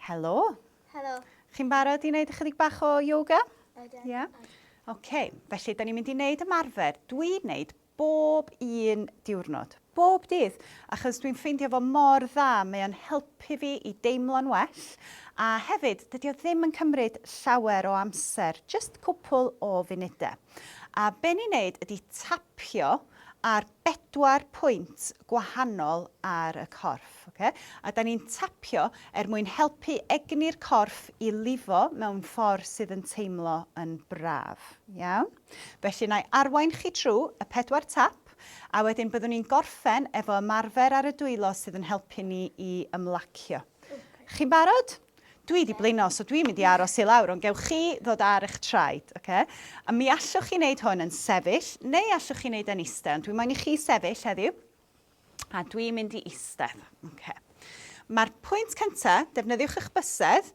Helo. Helo. Chi'n barod i wneud ychydig bach o yoga? Ydyn. Ie? Yeah? Oce, okay. felly, da ni'n mynd i wneud ymarfer. Dwi'n wneud bob un diwrnod, bob dydd, achos dwi'n ffeindio fo mor dda, mae o'n helpu fi i deimlo'n well, a hefyd, dydy o ddim yn cymryd llawer o amser, just cwpl o funudau. A be ni'n wneud ydy tapio ar bedwar pwynt gwahanol ar y corff, ocê? A 'dan ni'n tapio er mwyn helpu egni'r corff i lifo mewn ffordd sydd yn teimlo yn braf. Iawn? Felly 'na i arwain chi trw y pedwar tap, a wedyn byddwn ni'n gorffen efo ymarfer ar y dwylo sydd yn helpu ni i ymlacio. Chi'n barod? Dwi 'di blino, so dwi'n mynd i aros i lawr, ond gewch chi ddod ar eich traed, oce? A mi allwch chi wneud hwn yn sefyll, neu allwch chi wneud e'n eistedd, ond dwi moyn i chi sefyll heddiw, a dwi'n mynd i eistedd, oce? Mae'r pwynt cyntaf, defnyddiwch eich bysedd,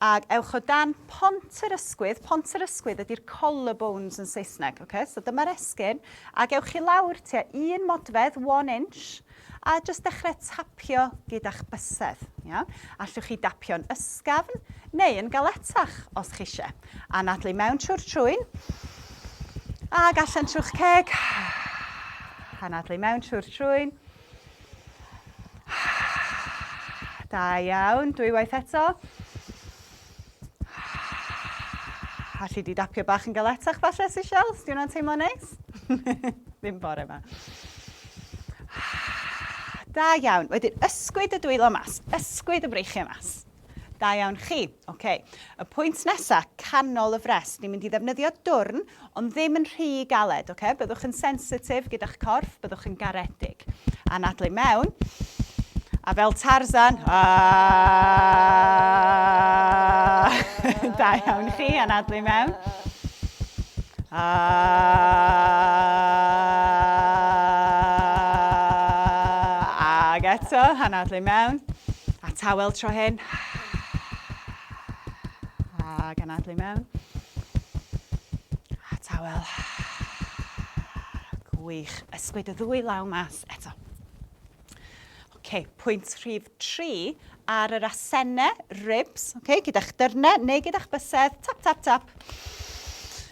ac ewch o dan pont yr ysgwydd. Pont yr ysgwydd ydy'r collarbones yn Saesneg, oce? So dyma'r esgyrn, ac ewch chi lawr tua un modfedd, one inch, A jyst dechrau tapio gyda'ch bysedd, iawn? Allwch chi dapio'n ysgafn neu yn galetach os chi eisiau. Anadlu mewn trwy'r trwyn. Ac allan trwy'ch ceg. Anadlu mewn trwy'r trwyn. Da iawn, dwywaith eto. Alli di dapio bach yn galetach falle, Seychelles? Os di hwnna'n teimlo neis? Ddim bore yma. Da iawn. Wedyn, ysgwyd y dwylo mas. Ysgwyd y breichiau mas. Da iawn chi. Okay. Y pwynt nesaf, canol y fres. Ni'n mynd i ddefnyddio dwrn Ond ddim yn rhy galed, oce? Byddwch yn sensitif gyda'ch corff, byddwch yn garedig. Anadlu i mewn. A fel Tarzan, da iawn chi, anadlu i mewn. Ag eto, anadlu i mewn. A tawel tro hyn. Ac anadlu mewn. A tawel. Gwych. Ysgwyd y ddwy law mas eto. Okay, pwynt rhif 3 ar yr asennau, ribs, okay, gyda'ch dyrnau neu gyda'ch bysedd, tap, tap, tap,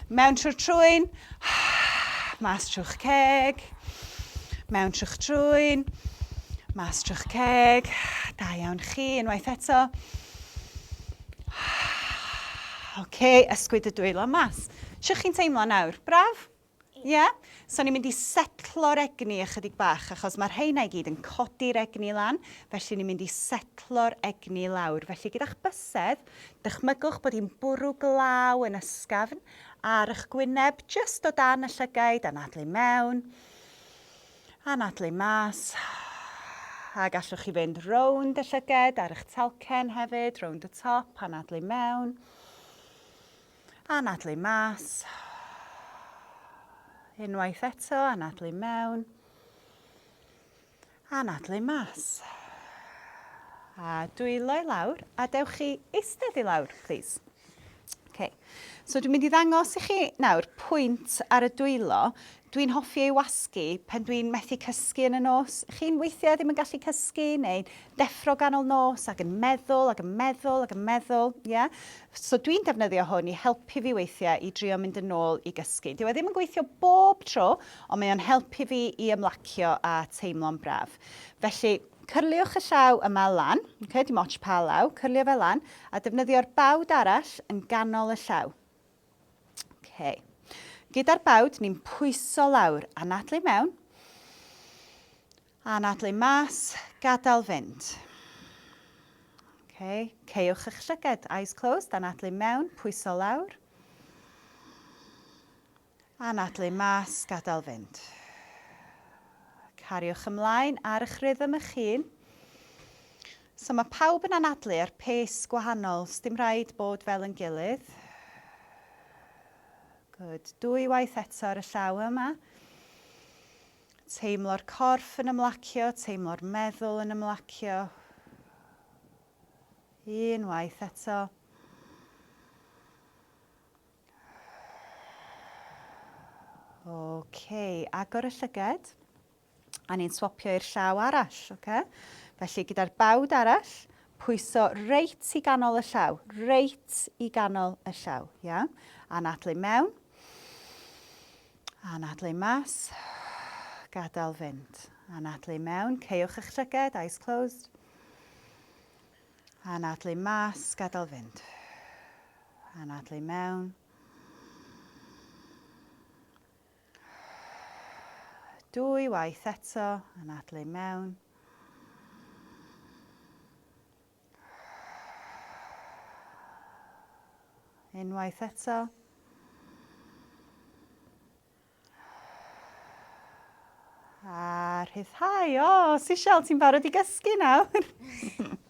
Mewn trwy'r trwyn, mas trwy'ch ceg. Mewn trwy'ch trwyn, mas trwy'ch ceg. Da iawn chi, unwaith eto. Oce, okay, ysgwyd y dwylo mas. Sio chi'n teimlo nawr? Braf? Ie, so ni'n mynd i setlo'r egni ychydig bach, achos mae'r rheina i gyd yn codi'r egni lan, felly ni'n mynd i setlo'r egni lawr. Felly gyda'ch bysedd, dychmygwch bod hi'n bwrw glaw yn ysgafn ar eich gwyneb, jyst o dan y llygaid, anadlu mewn, anadlu mas, a gallwch chi fynd rownd y llyged ar eich talcen hefyd, rownd y top, anadlu mewn, Anadlu mas. Unwaith eto, anadlu mewn. Anadlu mas. A dwylo i lawr, a dewch chi eistedd i lawr, plîs. Okay. So dwi'n mynd i ddangos i chi nawr pwynt ar y dwylo. Dwi'n hoffi ei wasgu pan dwi'n methu cysgu yn y nos. Chi'n weithiau ddim yn gallu cysgu neu'n deffro ganol nos ac yn meddwl ac yn meddwl ac yn meddwl, ie? So dwi'n defnyddio hwn i helpu fi weithiau i drio mynd yn ôl i gysgu. Dyw e ddim yn gweithio bob tro, ond mae o'n helpu fi i ymlacio a teimlo'n braf. Felly, cyrliwch y llaw yma lan, okay, dim ots pa law, cyrlio fe lan, a defnyddio'r bawd arall yn ganol y llaw. Ok. Gyda'r bawd, ni'n pwyso lawr, anadlu mewn, anadlu mas, gadael fynd. Ok, ceiwch eich llyged, eyes closed, anadlu mewn, pwyso lawr. Anadlu mas, gadael fynd. Cariwch ymlaen ar eich rhythm eich hun. So mae pawb yn anadlu ar pace gwahanol, sdim rhaid bod fel yn gilydd. Good. Dwy waith eto ar y llaw yma. Teimlo'r corff yn ymlacio, teimlo'r meddwl yn ymlacio. Un waith eto. OK, agor y llyged. A ni'n swopio i'r llaw arall, oce? Felly gyda'r bawd arall, pwyso reit i ganol y llaw, reit i ganol y llaw, ia? Anadlu mewn. Anadlu mas. Gadael fynd. Anadlu mewn, ceiwch eich llyged, eyes closed. Anadlu mas, gadael fynd. Anadlu mewn. Dwy waith eto, yn adle i mewn. Unwaith eto. A rhyddhau. O, Sisial, ti'n barod i gysgu nawr?